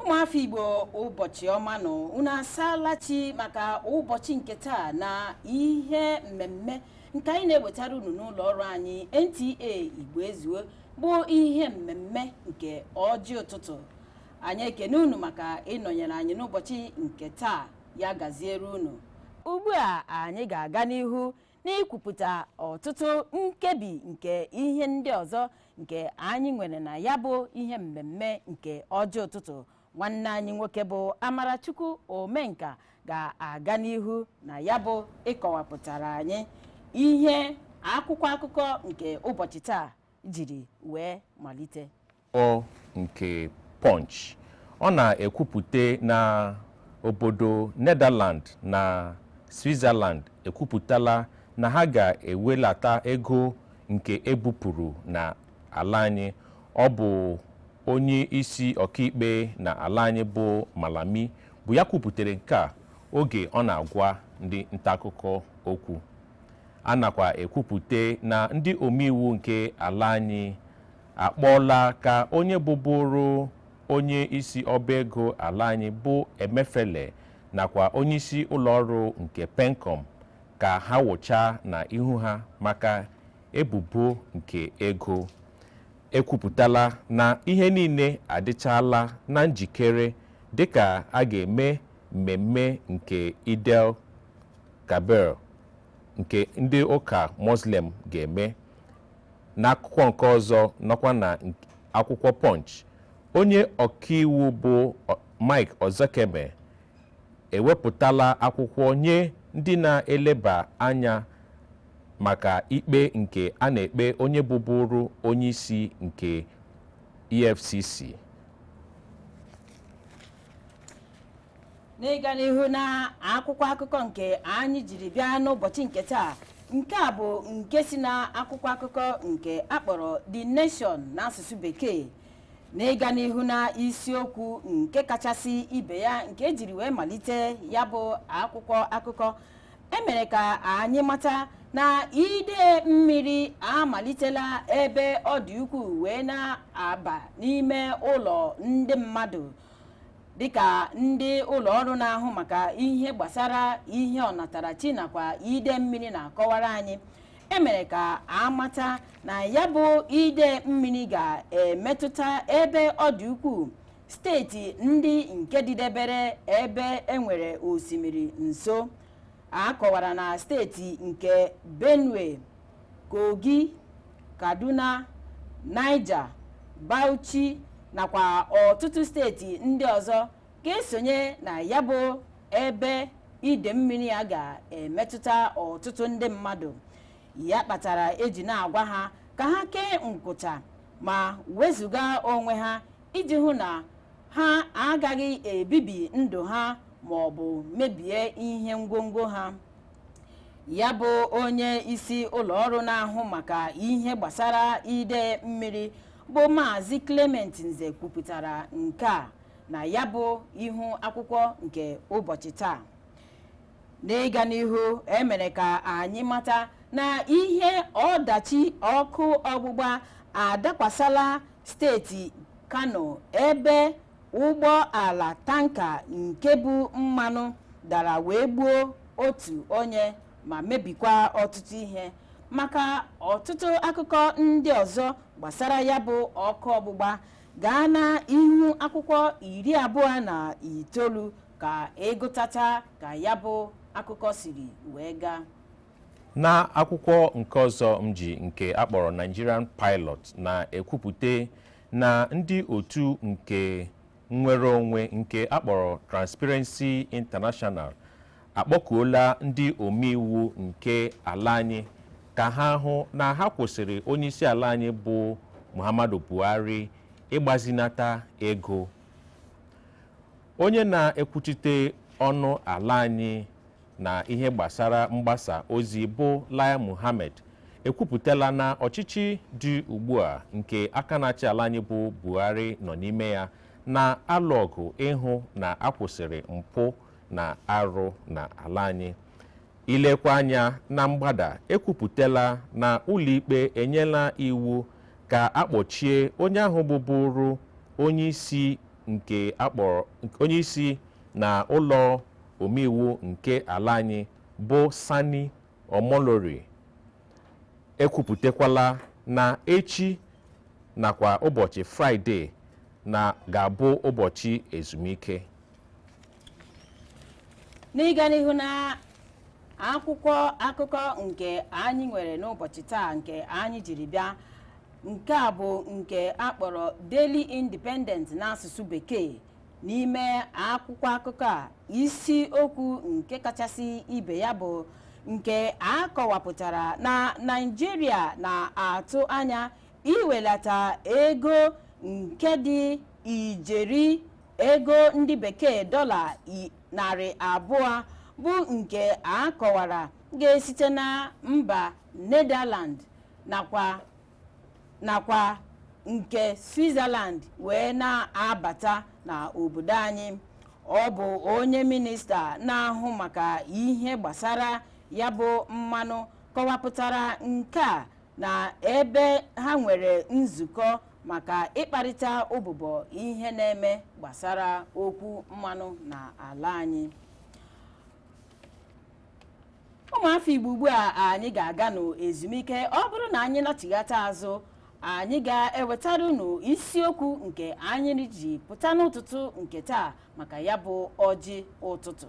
ụmụafọ igbo ụbọchị ọma nụ unu asaala chi maka ụbọchị nke taa na ihe mmemme nke anyị na-ewetara unu n'ụlọ ọrụ anyị nta igbo ezuo bụ ihe mmemme nke ọjị ụtụtụ anyị ekene unu maka ịnọnyere anyị n'ụbọchị nke taa ya gaziere unu ugbu a anyị ga-aga n'ihu n'ikwupụta ọtụtụ nkebi nke ihe ndị ọzọ nke anyị nwere na ya bụ ihe mmemme nke ọjị ụtụtụ nwanne anyị nwoke bụ amarachukwu omenka ga-aga n'ihu na ya bụ ịkọwapụtara anyị ihe akwụkwọ akụkọ nke ụbọchị taa jiri wee malite akụkọ nke Punch, ọ na-ekwupute na obodo Netherland na Switzerland ekwupụtala na ha ga-ewelata ego nke ebupụrụ na ala anyị. Ọ bụ onye isi ọkaikpe na ala anyị bụ Malami bụ ya kwuputere nke a oge ọ na-agwa ndị ntaakụkọ okwu. A nakwa ekwupute na ndị omeiwu nke ala anyị akpọọla ka onye bụburu onye isi ọba ego ala anyị bụ Emefiele nakwa onyeisi ụlọọrụ nke Pencom ka ha wụchaa na ihu ha maka ebubo nke ego ekwupụtala na ihe niile adịchaala na njikere dịka a ga-eme mmemme nke Eid el Kabir nke ndị ụka Muslim ga-eme N'akụkọ nke ọzọ nọkwa na akwụkwọ Punch, onye ọkaiwu bụ Mike Ozekhome ewepụtala akwụkwọ nye ndị na-eleba anya maka ikpe nke a na-ekpe onye bụburu onyeisi nke EFCC. n'ịga n'ihu na akwụkwọ akụkọ nke anyị jiri bịa n'ụbọchị nke taa nke a bụ nke si na akwụkwọ akụkọ nke akpọrọ The Nation n'asụsụ bekee n'ịga n'ihu na isiokwu nke kachasị ibe ya nke ejiri wee malite ya bụ akwụkwọ akụkọ emere ka anyị mata na ide mmiri amalitela ebe ọ dị ukwuu wee na-aba n'ime ụlọ ndị mmadụ dịka ndị ụlọ ọrụ na-ahụ maka ihe gbasara ihe ọnatarachi nakwa ide mmiri na-akọwara anyị emere ka amata na ya bụ ide mmiri ga-emetụta ebe ọ dị ukwuu steeti ndị nke dịdebere ebe enwere osimiri nso a kọwara na steeti nke benue Kogi, Kaduna, Niger, Bauchi nakwa ọtụtụ steeti ndị ọzọ ga-esonye na ya bụ ebe ide mmiri a ga-emetụta ọtụtụ ndị mmadụ ya kpatara eji na-agwa ha ka ha kee nkwụcha ma wezụga onwe ha iji hụ na ha agaghị ebibi ndụ ha ma ọ bụ mebie ihe ngwongwo ha ya bụ onye isi ụlọ ọrụ na-ahụ maka ihe gbasara ide mmiri bụ maazị clement nze kwupụtara nke a na ya bụ ihu akwụkwọ nke ụbọchị taa n'ịga n'ihu emere ka anyị mata na ihe ọdachi ọkụ ọgbụgba adakwasala steeti kano ebe ụgbọ ala tanka nke bu mmanụ dara wee gbuo otu onye ma mebikwa ọtụtụ ihe maka ọtụtụ akụkọ ndị ọzọ gbasara ya bụ ọkụ ọgbụgba gaa na ihu akwụkwọ iri abụọ na itoolu ka ịgụtata ka ya bụ akụkọ siri wee gaa na akwụkwọ nke ọzọ m ji nke akpọrọ Nigerian Pilot na-ekwupụta na ndị otu nke nnwere onwe nke akpọrọ Transparency International akpọkuola ndị omeiwu nke ala anyị ka ha hụ na ha kwụsịrị onyeisi ala anyị bụ Muhammadu Buhari ịgbazinata ego onye na-ekwuchite ọnụ ala anyị na ihe gbasara mgbasa ozi bụ Lai Mohammed ekwupụtala na ọchịchị dị ugbu a nke aka na-achị ala anyị bụ Buhari nọ n'ime ya na-alụ ọgụ ịhụ na akwụsịrị mpụ na arụ na ala anyị ilekwa anya na mgbada ekwupụtala na ụlọikpe enyela iwu ka akpọchie onye ahụ bụburu onye isi nke akpọrọ onye isi na ụlọ omeiwu nke ala anyị bụ Sani Omolori ekwupụtakwala na echi nakwa ụbọchị fraịde na ga-abụ ụbọchị ezumike n'ịga n'ihu na akwụkwọ akụkọ nke anyị nwere n'ụbọchị taa nke anyị jiri bịa nke a bụ nke akpọrọ Daily Independent n'asụsụ bekee n'ime akwụkwọ akụkọ a isi okwu nke kachasị ibe ya bụ nke a kọwapụtara na naịjirịa na-atụ anya iwelata ego nke dị ijeri ego ndị bekee dọla i- narị abụọ bụ nke a kọwara ga-esite na mba netherland nakwa nakwa nke Switzerland wee na-abata na obodo anyị ọ bụ onye minista na-ahụ maka ihe gbasara ya bụ mmanụ kọwapụtara nke a na ebe ha nwere nzukọ maka ịkparịta ụbụbọ ihe na-eme gbasara okwu mmanụ na ala anyị ụmụafọ igbo ugbu a anyị ga-aga n'ezumike ọ bụrụ na anyị nachighata azụ anyị ga-ewetara unu isiokwu nke anyị ji pụta n'ụtụtụ nke taa maka ya bụ ọjị ụtụtụ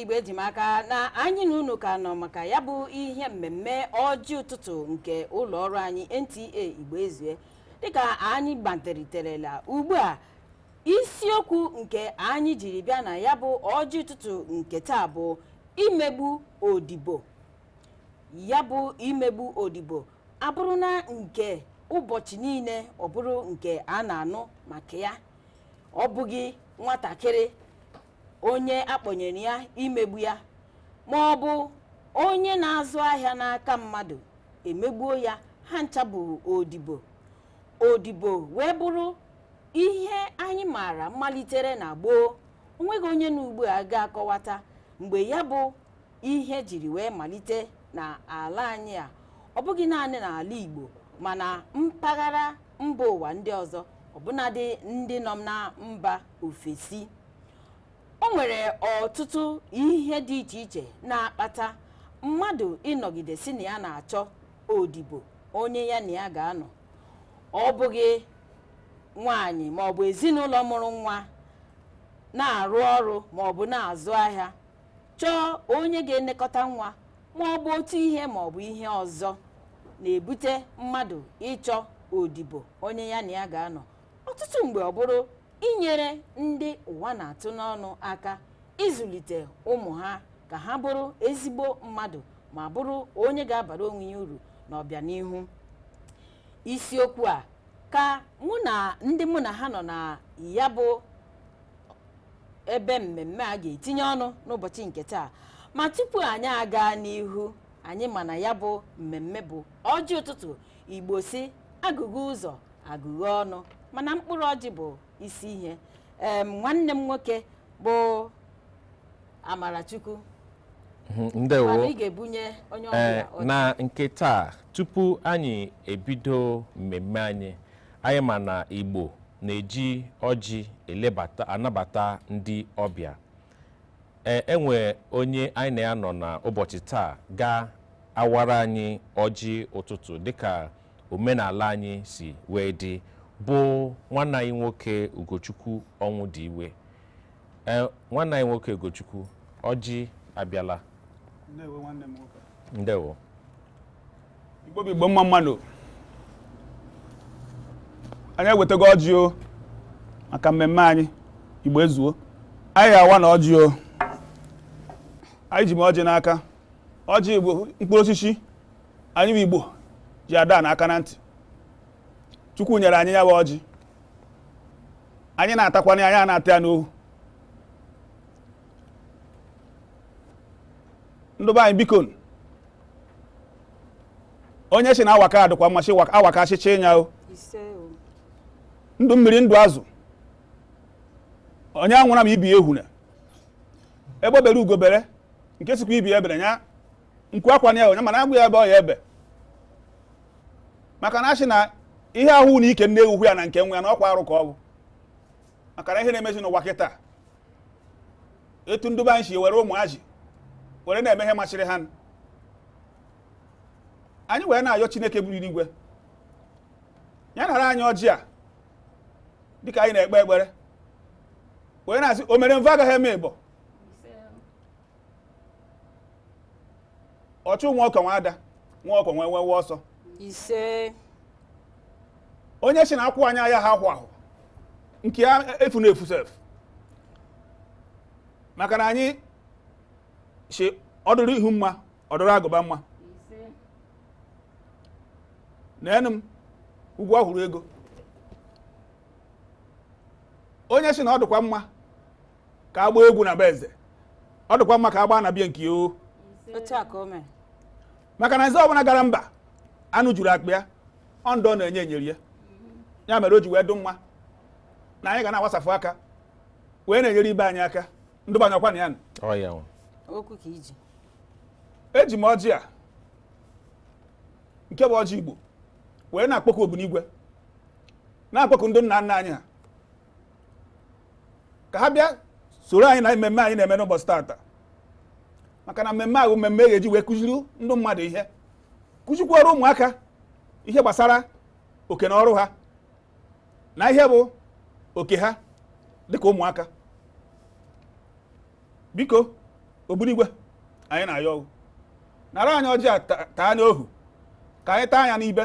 igbo eji m aka na anyị na unu ka nọ maka ya bụ ihe mmemme ọjị ụtụtụ nke ụlọ ọrụ anyị NTA igbo ezue dịka anyị gbanteriterela ugbu a isiokwu nke anyị jiri bịa na ya bụ ọjị ụtụtụ nke taa bụ imegbu odibo ya bụ imegbu odibo abụrụna nke ụbọchị niile ọ bụrụ nke a na-anụ maka ya ọ bụghị nwatakịrị onye a kpọnyere ya imegbu ya ma ọ bụ onye na-azụ ahịa n'aka mmadụ emegbuo ya ha ncha bụ odibo odibo wee bụrụ ihe anyị maara malitere na gboo o nweghị onye na ugbu a ga-akọwata mgbe ya bụ ihe jiri wee malite na ala anyị a ọ bụghị naanị n'ala Igbo mana mpaghara mba ụwa ndị ọzọ ọbụnadị ndị nọ na mba ofesi o nwere ọtụtụ ihe dị iche iche na-akpata mmadụ ịnọgide sị na ya na-achọ odibo onye ya na ya ga-anọ ọ bụghị nwaanyị ma ọ bụ ezinụlọ mụrụ nwa na-arụ ọrụ ma ọ bụ na-azụ ahịa chọọ onye ga-elekọta nwa ma ọ bụ otu ihe ma ọ bụ ihe ọzọ na-ebute mmadụ ịchọ odibo onye ya na ya ga-anọ ọtụtụ mgbe ọ bụrụ inyere ndị ụwa na-atụ n'ọnụ aka ịzụlite ụmụ ha ka ha bụrụ ezigbo mmadụ ma bụrụ onye ga-abara onwe ya uru n'ọbịanihu isiokwu a ka mụ na ndị mụ na ha nọ na ya bụ ebe mmemme a ga-etinye ọnụ n'ụbọchị nke taa ma tupu anyị aga n'ihu anyị ma na ya bụ mmemme bụ ọjị ụtụtụ igbo sị agụghe ụzọ agụghe ọnụ mana mkpụrụ ọjị bụ isi ihe em nwanne m nwoke bụ amarachukwu Mhm, ndewo mana ị ga-ebunye onye Ee, ọbụla ọjị. na nke taa tupu anyị ebido mmemme anyị anyị ma na igbo na-eji ọjị elebata anabata ndị ọbịa ee enwe onye anyị na ya nọ na ụbọchị taa ga-awara anyị ọjị ụtụtụ dịka omenala anyị si wee dị bụ nwanne anyị nwoke ugochukwu ọnwụdiwe ee nwanne anyị nwoke ugochukwu ọjị abịala Ndewo nwanne m nwoke. ndewo Igbo bụ Igbo mma mma nụ anyị ewetago ọjị o maka mmemme anyị Igbo ezuo anyị awana ọjị o anyị ji m ọjị n'aka ọjị bụ mkpụrụ osisi anyị bụ igbo ji ada na aka na ntị chukwu nyere anyị ya bụ ọjị anyị na-atakwana ya na-ata ya n'ohu ndị be anyị biko onye si na awaka adịkwa mma si awaka achịcha ịnya o ndụ mmiri ndụ azụ onye anwụra ma ibe ya ehuna egbe bere ugo bere nke sịkwa ibe ya ebera ya nku akwana ya o mana agwa ya ebe ọ ya-ebe maka na a sị na ihe a hụ na ike nne ewu hụ ya na nke nwa ya na ọkwa arụ ka ọ bụ maka na ihe na-emezi n'ụwa kịta etu ndị be anyị si were ụmụazị were na-eme ihe masịrị ha anyị wee na-ayọ chineke buru igwe ya nara anyị ọjị a dịka anyị na-ekpe ekpere wee na-asị o mere mbụ agaghị eme ịbọ ọchụ nwa ọkọ nwe ada nwa ọkọ nwe nwewe ọsọ ise onye si na akwụ anya ya ha ahụ ahụ nke ya efu na efu ise maka na anyị si ọ dụrụ ihu mma ọ dụrụ agụba mma na enu m ugwu ọhụrụ ego onye si na ọ dịkwa mma ka agba egwu na be eze ọ dịkwa mma ka agba na bie nke o maka na eze ọbụla gara mba anụ juru akpa ya ọ ndị ọ na-enye nyere ya ya mere o ji wee dụ mma na anyị ga na-agbasafụ aka wee na-enyere ibe anyị aka ndị be anyị ọkwa na ya na eji m ọjị a nke bụ ọjị igbo wee na-akpọkụ obinigwe na-akpọkụ ndị nna nna anyị ha ka ha bịa soro anyị na mmemme anyị na-eme n'ụbọchị tata maka na mmemme a wụ mmemme a ga-eji wee kụziri ndị mmadụ ihe kụzikwuoro ụmụaka ihe gbasara oke na ọrụ ha na ihe bụ oke ha dịka ụmụaka biko obinigwe anyị na-ayọ gị nara anyị ọjị a taa n'ohu ka anyị taa ya n'ibe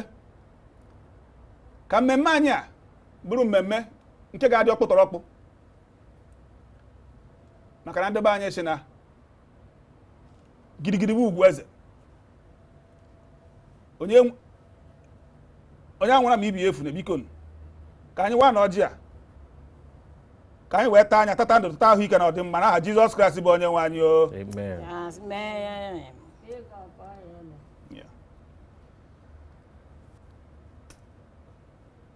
ka mmemme anyị a bụrụ mmemme nke ga-adị ọkpụtọrọkpụ maka na ndị be anyị sị na gidigidi bụ ugwu eze onye anwụna ma ibe ya efuna biko ka anyị waanụ ọjị a ka anyị wee taa ya tata ndụ tata ahụike na ọdịmma na aha Jizọs Kraịst bụ onye nwe anyị o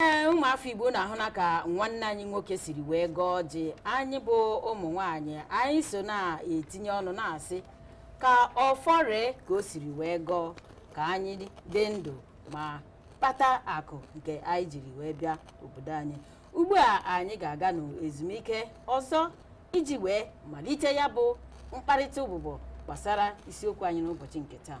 ee ụmụafọ igbo unu ahụna ka nwanne anyị nwoke siri wee gọọ ọjị anyị bụ ụmụ nwanyị anyị so na-etinye ọnụ na-asị ka ọfọ ree ka o siri wee gọọ ka anyị dị ndụ ma kpata akụ nke anyị jiri wee bịa obodo anyị ugbu a anyị ga-aga n'ezumike ọzọ iji wee malite ya bụ mkparịta ụbụbọ gbasara isiokwu anyị n'ụbọchị nke taa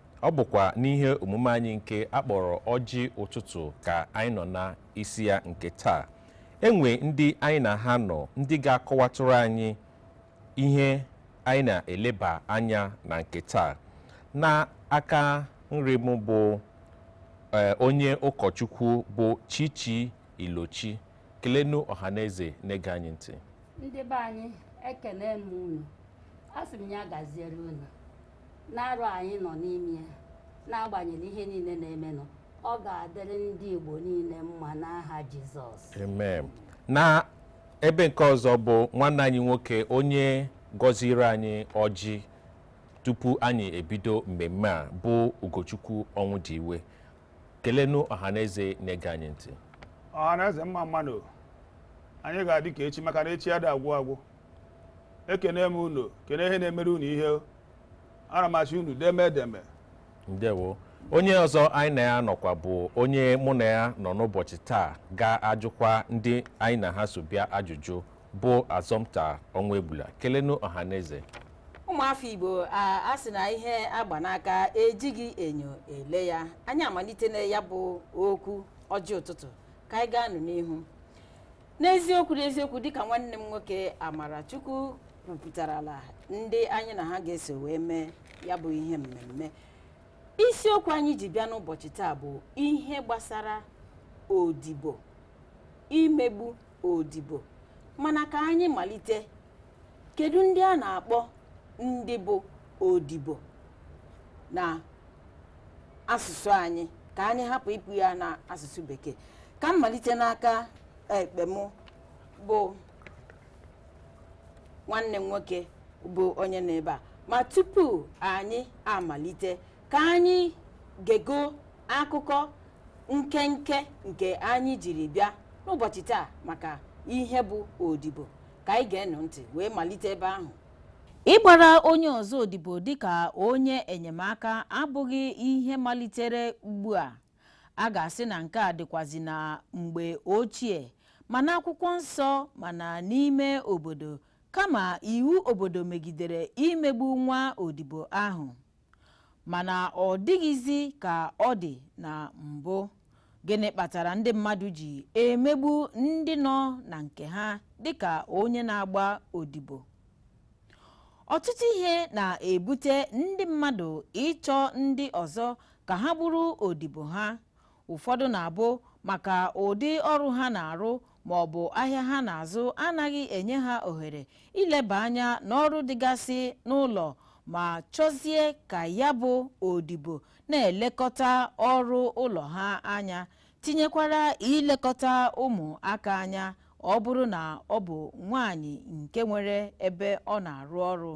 Ọ bụkwa n'ihe omume anyị nke a kpọrọ ọjị ụtụtụ ka anyị nọ na isi ya nke taa. Enwe ndị anyị na ha nọ ndị ga-akọwatụrụ anyị ihe anyị na-eleba anya na nke taa. Na aka nri m bụ ee, onye ụkọchukwu bụ Chichi Ilochi. Kelenu ọhaneze na-ege anyị ntị. ndị be anyị ekene m unu a sị m ya gaziere unu N'arọ a anyị nọ n'ime ya, n'agbanyeghị ihe niile na-emenụ, ọ ga-adịrị ndị Igbo niile mma n'aha Jizọs. Amen. na ebe nke ọzọ bụ nwanne anyị nwoke onye gọziri anyị ọjị tupu anyị ebido mmemme a bụ ugochukwu Ọnwụdiwe kelenụ ọhaneze na-ege anyị ntị ọhaneze mma mmanụ anyị ga-adị ka echi maka na echi ada agwụ agwụ ekene m unu kene ihe na-emere unu ihe o. ana m asị unu deme edeme ndewo onye ọzọ anyị na ya nọkwa bụ onye mụ na ya nọ n'ụbọchị taa ga-ajụkwa ndị anyị na ha so bịa ajụjụ bụ Assumpta Ọnwụegbula kelenụ ọhaneze ụmụafọ igbo a sị na ihe a gba n'aka ejighị enyo ele ya anyị amalitena ya bụ okwu ọjị ụtụtụ ka anyị gaanụ n'ihu n'eziokwu n'eziokwu dịka nwanne m nwoke Amarachukwu kwupụtarala ndị anyị na ha ga-eso wee mee ya bụ ihe mmemme isiokwu anyị ji bịa n'ụbọchị taa bụ ihe gbasara odibo imegbu odibo mana ka anyị malite kedu ndị a na-akpọ ndị bụ odibo na asụsụ anyị ka anyị hapụ ịkpọ ya na asụsụ bekee ka m malite n'aka ekpe m bụ nwanne m nwoke bụ onye nọ ebe a ma tupu anyị amalite ka anyị gego akụkọ nkenke nke anyị jiri bịa n'ụbọchị taa maka ihe bụ odibo ka anyị geenụ ntị wee malite ebe ahụ ịgbara onye ọzọ odibo dịka onye enyemaka abụghị ihe malitere ugbu a a ga-asị na nke a dịkwazi na mgbe ochie ma n'akwụkwọ nsọ ma na n'ime obodo kama iwu obodo megidere imegbu nwa odibo ahụ mana ọ dịghịzi ka ọ dị na mbụ gịnị kpatara ndị mmadụ ji emegbu ndị nọ na nke ha dịka onye na-agba odibo ọtụtụ ihe na-ebute ndị mmadụ ịchọ ndị ọzọ ka ha bụrụ odibo ha Ụfọdụ na-abụ maka ụdị ọrụ ha na-arụ ma ọ bụ ahịa ha na-azụ anaghị enye ha ohere ileba anya n'ọrụ dịgasị n'ụlọ ma chọzie ka ya bụ odibo na-elekọta ọrụ ụlọ ha anya tinyekwara ilekọta ụmụaka anya ọ bụrụ na ọ bụ nwaanyị nke nwere ebe ọ na-arụ ọrụ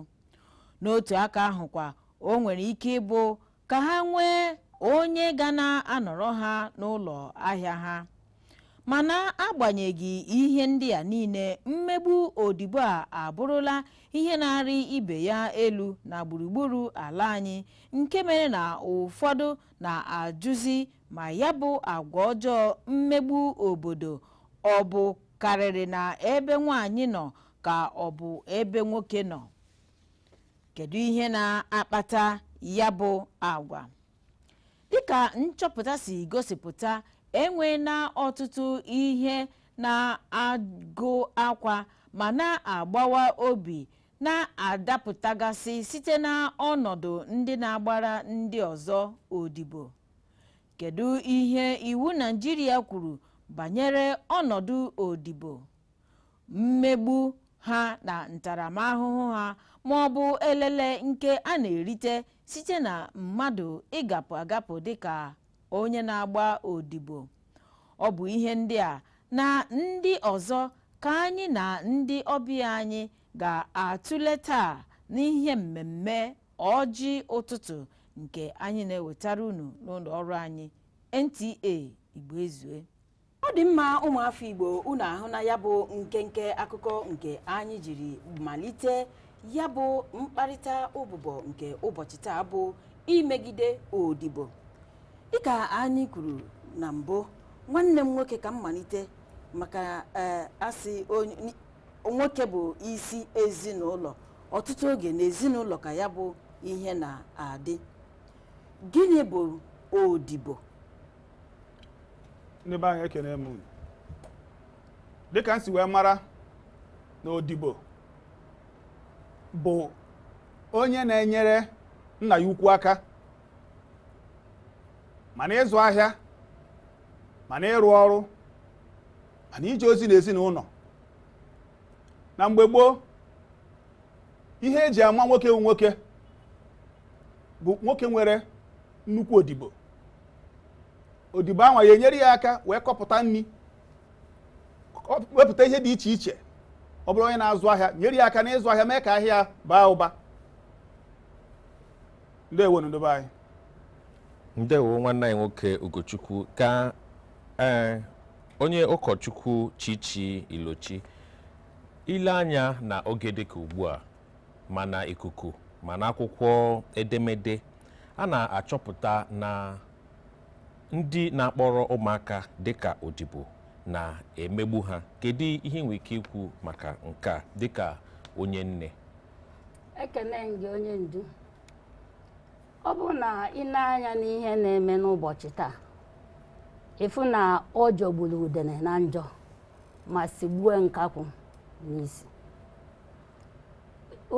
n'otu aka ahụkwa o nwere ike ịbụ ka ha nwee onye ga na-anọrọ ha n'ụlọ ahịa ha mana agbanyeghị ihe ndị a niile mmegbu odibo a abụrụla ihe na-arị ibe ya elu na gburugburu ala anyị nke mere na ụfọdụ na-ajụzi ma ya bụ agwa ọjọọ mmegbu obodo ọ bụkarịrị na ebe nwaanyị nọ ka ọ bụ ebe nwoke nọ kedu ihe na-akpata ya bụ agwa dịka nchọpụta si gosipụta enweela ọtụtụ ihe na-agụ akwa ma na-agbawa obi na-adapụtagasị site n'ọnọdụ ndị na-agbara ndị ọzọ odibo kedu ihe iwu Naịjirịa kwuru banyere ọnọdụ odibo mmegbu ha na ntaramahụhụ ha ma ọ bụ elele nke a na-erite site na mmadụ ịgapụ agapụ dịka onye na-agba odibo ọ bụ ihe ndị a na ndị ọzọ ka anyị na ndị ọbịa anyị ga-atụle taa n'ihe mmemme ọjị ụtụtụ nke anyị na-ewetara unu n'ụlọ ọrụ anyị NTA Igbo Ezue ọ dị mma ụmụafọ igbo unu ahụna ya bụ nkenke akụkọ nke anyị jiri malite ya bụ mkparịta ụbụbọ nke ụbọchị taa bụ imegide odibo dịka anyị kwuru na mbụ nwanne m nwoke ka m malite maka ee a sị onye- ni- nwoke bụ isi ezinụlọ ọtụtụ oge na ezinụlọ ka ya bụ ihe na-adị gịnị bụ odibo ndị be anyị ekene m unu dịka m si wee mara na odibo bụ onye na-enyere nna ya ukwu aka ma na ịzụ ahịa ma na ịrụ ọrụ ma na ije ozi na ezinụlọ na mgbe gboo ihe e ji ama nwoke wu nwoke bụ nwoke nwere nnukwu odibo odibo ahụ ya-enyere ya aka wee kọpụta nri wepụta ihe dị iche iche ọ bụrụ onye na-azụ ahịa nyere ya aka n'ịzụ ahịa mee ka ahịa baa ụba ndewonụ ndị be anyị ndewo nwanne anyị nwoke Ugochukwu ka ee eh, onye ụkọchukwu Chichi Ilochi i lee anya na oge dịka ugbu a ma na ikuku ma n'akwụkwọ edemede a na-achọpụta na ndị na-akpọrọ ụmụaka dịka odibo na-emegbu ha kedu ihe ị nwere ike ikwu maka nke a dịka onye nne ekene m gị onye ndu ọ bụrụ na ị nee anya n'ihe na-eme n'ụbọchị taa ị fụ na ọ jọgburu udene na njọ ma sigbue nkakwụ n'isi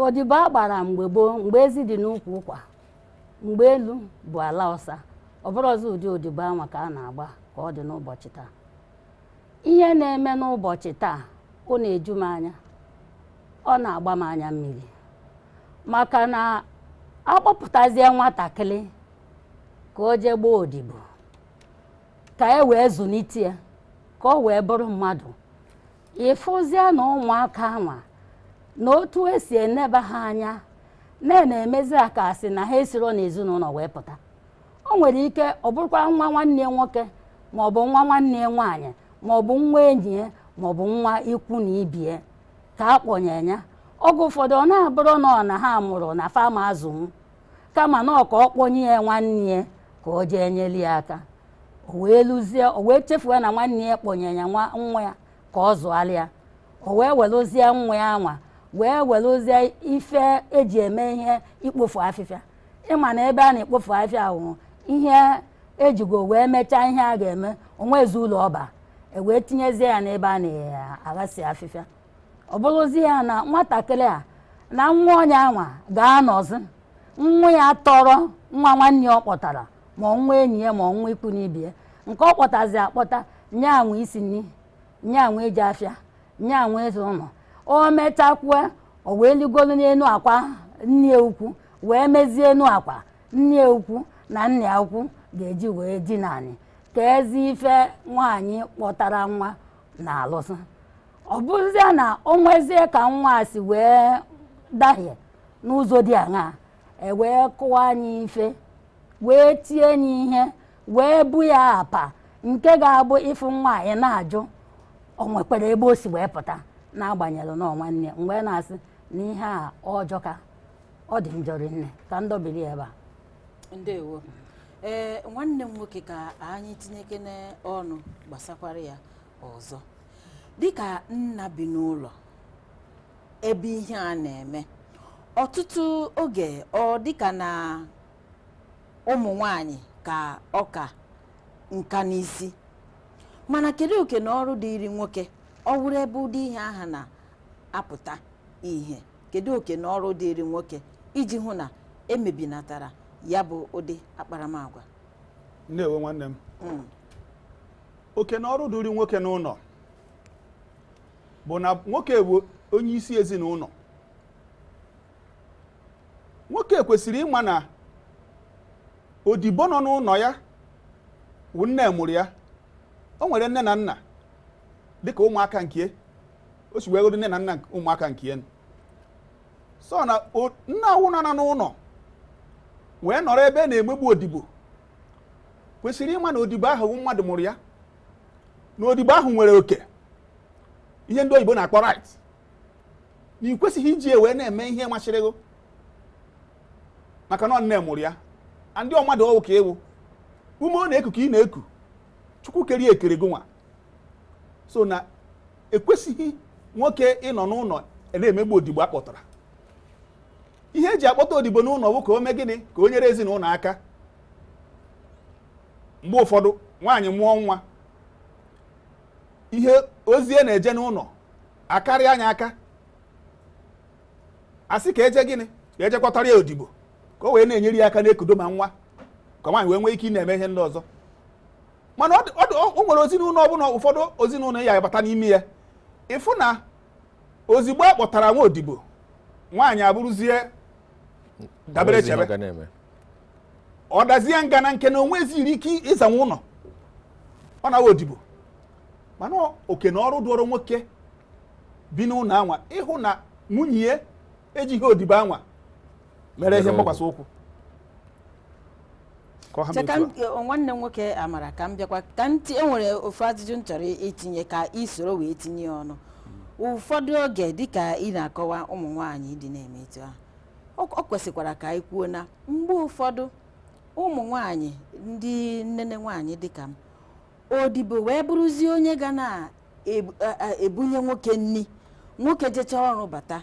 odibo a gbara mgbe gboo mgbe ezi dị n'ukwu ụkwa mgbe elu bụ ala ọsa ọ bụrọzi ụdị odibo anwa ka a na-agba ka ọ dị n'ụbọchị taa ihe na-eme n'ụbọchị taa ọ na-eju m anya ọ na-agba m anya mmiri maka na a kpọpụtazie nwatakịrị ka o jee gbaa odibo ka e wee zụlite ya ka o wee bụrụ mmadụ ị fụzie na ụmụaka anwa na otu esi eneba ha anya na-emezi ha ka a sị na ha esiro n'ezinụlọ wee pụta o nwere ike ọ bụrụkwa nwa nwanne ya nwoke ma ọ bụ nwa nwanne ya nwaanyị ma ọ bụ nwa enyi ya ma ọ bụ nwa ikwu na ibe ya ka a kpọnye ya oge ụfọdụ ọ na-abụrụ na ọ na ha mụrụ na fa ama azụnwu kama na ọ ka ọ kpọnye ya nwanne ya ka o jee nyere ya aka o wee luzie o wee chefuo na nwanne ya kpọnye ya nwa ya ka ọ zụara ya o wee welụzie nwa ya anwa wee welụzie ife eji eme ihe ikpofu afịfịa ị ma na ebe a na-ekpofu afịfịa ahụ ihe ejigo wee mechaa ihe a ga-eme o nwezi uru ọ ba e wee tinyezie ya n'ebe a na-aghasị afịfịa ọ bụrụzi ya na nwatakịrị a na nwa onye anwa ga-anọzi nwa ya tọrọ nwa nwanne ọ kpọtara ma nwa enyi ya ma nwa ikwu n'ibe ya nke ọ kpọtazi akpọta nya nwa isi nri nya nwa ije afịa nya nwa ịza ụlọ o mechakwue o wee ligolu n'enu akwa nne ya ukwu wee mezie enu akwa nne ya ukwu na nne ya ukwu ga-eji wee dina anị ka ezi ife nwaanyị kpọtara nwa na-alụsị ọ bụrụzie na o nwezie ka nwa a si wee dahie n'ụzọ dị aṅaa e wee kụwa nya ife wee tie nya ihe wee bu ya apa nke ga-abụ ị fụ nwa ị na-ajụ o nwekwara ebe o si wee pụta n'agbanyeghị na ọ nwanne m wee na-asị na ihe a ọ jọka ọ dị njọ rinne ka m dọbiri ya ebe a ndewo ee nwanne m nwoke ka anyị tinyekene ọnụ gbasakwara ya ọzọ dịka nna bi n'ụlọ ebe ihe a na-eme ọtụtụ oge ọ dịka na ụmụ nwanyị ka ọka nka n'isi mana kedu oke na ọrụ dịịrị nwoke ọ wụrụ ebe ụdị ihe aha na-apụta ihe kedu oke na ọrụ dịịrị nwoke iji hụ na emebinatara ya bụ ụdị akparamagwa ndewo nwanne m Mm. oke na ọrụ dịrị nwoke n'ụlọ bụ na nwoke bụ onye isi ezinụlọ nwoke kwesịrị ịma na odibo nọ n'ụlọ ya wụ nne mụrụ ya o nwere nne na nna dịka ụmụaka nke o si wee godo nne na nna ụmụaka nke so na nna ọwụna nọ n'ụlọ wee nọrọ ebe a na-emegbu odibo kwesịrị ịma na odibo ahụ wụ mmadụ mụrụ ya na odibo ahụ nwere oke ihe ndị oyibo na-akpọ right na ị kwesịghị iji wee na-eme ihe masịrị gị maka na ọ nne mụrụ ya and ọ mmadụ ọ wụ ka ị wụ ume ọ na-eku ka ị na-eku chukwu kere ya ekere gị nwa so na ekwesịghị nwoke ịnọ n'ụlọ a na-emegbu odibo a kpọtara ihe eji akpọta odibo n'ụlọ bụ ka o mee gịnị ka o nyere ezinụlọ aka mgbe ụfọdụ nwaanyị mụọ nwa ihe ozi a na-eje n'ụlọ akarịa ya aka asị ka eje gịnị ka eje kpọtara ya odibo ka o wee na-enyere ya aka na-ekudo ma nwa ka nwaanyị wee nwee ike ịna-eme ihe ndị ọzọ mana o nwere ezinụlọ ọbụla ụfọdụ ezinụlọ ị ya-abata n'ime ya ị fụ na ozigbo a kpọtara nwa odibo nwaanyị abụrụzie dabere Onwezi ihe chere ọ ga na-eme. ọ dazie ngana nke na o nweziri ike ịzanwu ụlọ ọ na-awụ odibo mana oke na ọrụ dụụrụ nwoke bi n'ụlọ anwa ịhụ na nwunye ya ejighị odibo anwa mere ihe mgbakwasị ụkwụ ka ọ ha mee Cheka otu a. m- nwanne m nwoke amara ka m bịakwa ka m ti- enwere ofu ajụjụ m chọrọ itinye ka ị soro wee tinye ya ọnụ ụfọdụ oge dịka ị na-akọwa ụmụ nwaanyị ndị na-eme etu ahụ ọ ọ kwesịkwara ka anyị kwuo na mgbe ụfọdụ ụmụ nwaanyị ndị nnene nwaanyị dịka m odibo wee bụrụzie onye ga na-ebunye nwoke nni nwoke jecha ọrụ bata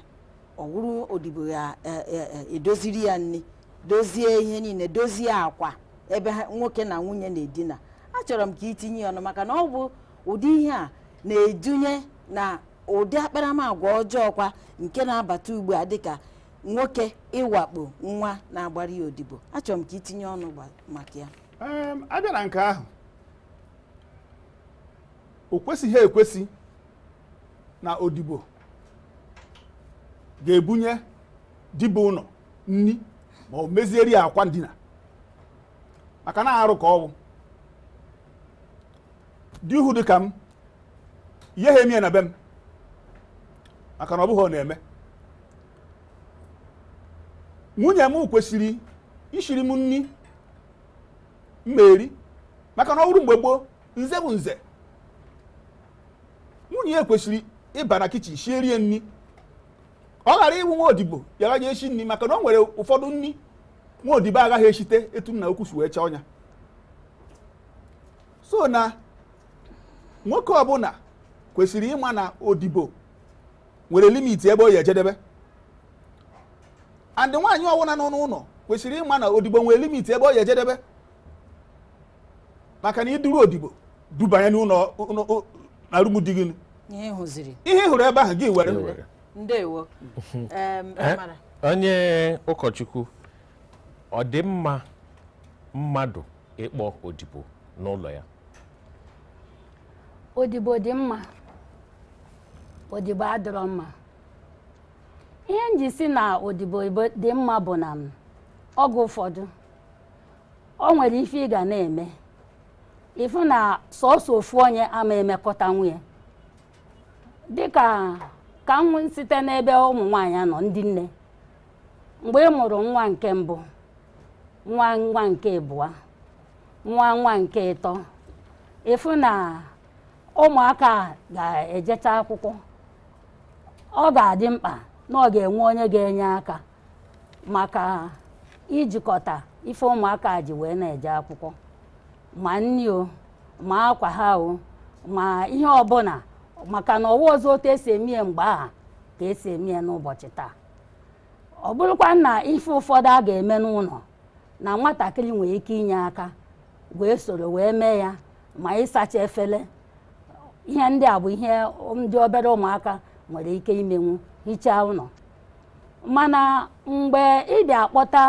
ọ wụrụ odibo ya e- e- e- edoziri ya nni dozie ihe niile dozie akwa ebe ha- nwoke na nwunye na-edina achọrọ m ka i tinye ya ọnụ maka na ọ bụ ụdị ihe a na-edunye na ụdị akparamagwa ọjọọ kwa nke na-abata ugbu a dịka nwoke ịwakpo nwa na-agbara ya odibo achọrọ m ka i tinye ọnụ gba- maka ya abịa na nke ahụ o kwesịghị ekwesị na odibo ga-ebunye dibụnọ nni ma ọ mezieri ya akwa ndina maka na arụ ka ọ wụ ụdị ihe dị ka m ihe ha emie na be m maka na ọ bụghị ọ na-eme nwunye m kwesịrị ishiri m nni m eri maka na ọ bụrụ mgbe gboo nze bụ nze nwunye ya kwesịrị ịba na kitchen shierie nni ọ ghara ịwụ nwa odibo ya ga-eje eshi nni maka na o nwere ụfọdụ nni nwa odibo agaghị eshite etu nna ukwu si wee chọọ nya so na nwoke ọbụla kwesịrị ịma na odibo nwere limit ebe ọ ya-ejedebe and nwaanyị ọwụna nọ n'ụlọ kwesịrị ịma na odibo nwere limit ebe ọ ya-ejedebe maka na i duru odibo dubanye n'ụlọ na room di gị ihe ị hụrụ ebe ahụ gị were ndewo eh, onye ụkọchukwu ọ dị mma mmadụ ịkpọ odibo n'ụlọ ya odibo dị mma odibo adịrọ mma ihe m ji si na odibo ibo- dị mma bụ na m, oge ụfọdụ o nwere ife ị ga na-eme ị fụ na sọsọ ofu onye ama emekọtanwu nya dịka ka m wee site n'ebe ụmụ nwaanyị nọ ndị nne mgbe ị mụrụ nwa nke mbụ nwa nwa nke ịbụa nwa nwa nke ịtọ ị fụ na ụmụaka ga-ejecha akwụkwọ ọ ga-adị mkpa na ọ ga-enwe onye ga-enye aka maka ijikọta ife ụmụaka ji wee na-eje akwụkwọ ma nni o ma akwa ha o ma ihe ọbụla maka na ọ wụrọzi otu e si emie mgbe aha ka e si emie n'ụbọchị taa ọ bụrụkwa na ife ụfọdụ a ga-eme n'ụlọ na nwatakịrị nwere ike inye aka wee soro wee mee ya ma ịsacha efele ihe ndị a bụ ihe ndị obere ụmụaka nwere ike imenwu hichaa ụlọ mana mgbe ị bịa akpọta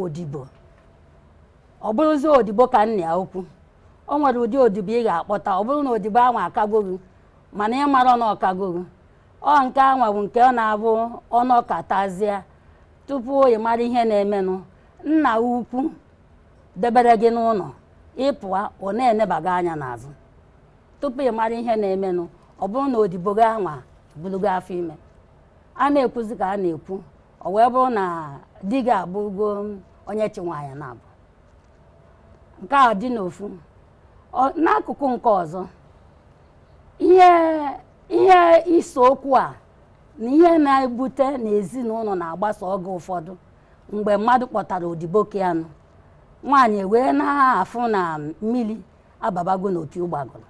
odibo ọ bụrụzi odibo ka nna ya ukwu o nwere ụdị odibo ị ga-akpọta ọ bụrụ na odibo ahụ akago gị mana ị mara na ọ kago gị ọ nke anwa bụ nke ọ na-abụ ọ nọkatazịa tupu ị mara ihe na-emenụ nna ukwu debere gị n'ụnọ ị pụa ọ na-enebaga anya n'azụ tupu ị mara ihe na-emenụ ọ bụrụ na odibo gị anwa bulugo afọ ime a na-ekwuzi ka a na-ekwu ọ wee bụrụ na di gị abụgo onye chị nwanyị naabọ nke a dị n'ofu n'akụkụ nke ọzọ ihe ise okwu a na ihe na-ebute na ezinụnọ na-agbasa oge ụfọdụ mgbe mmadụ kpọtara odibo nke anụ nwaanyị wee na-afụ na mmili ababago n'opi ụgbọgụrụ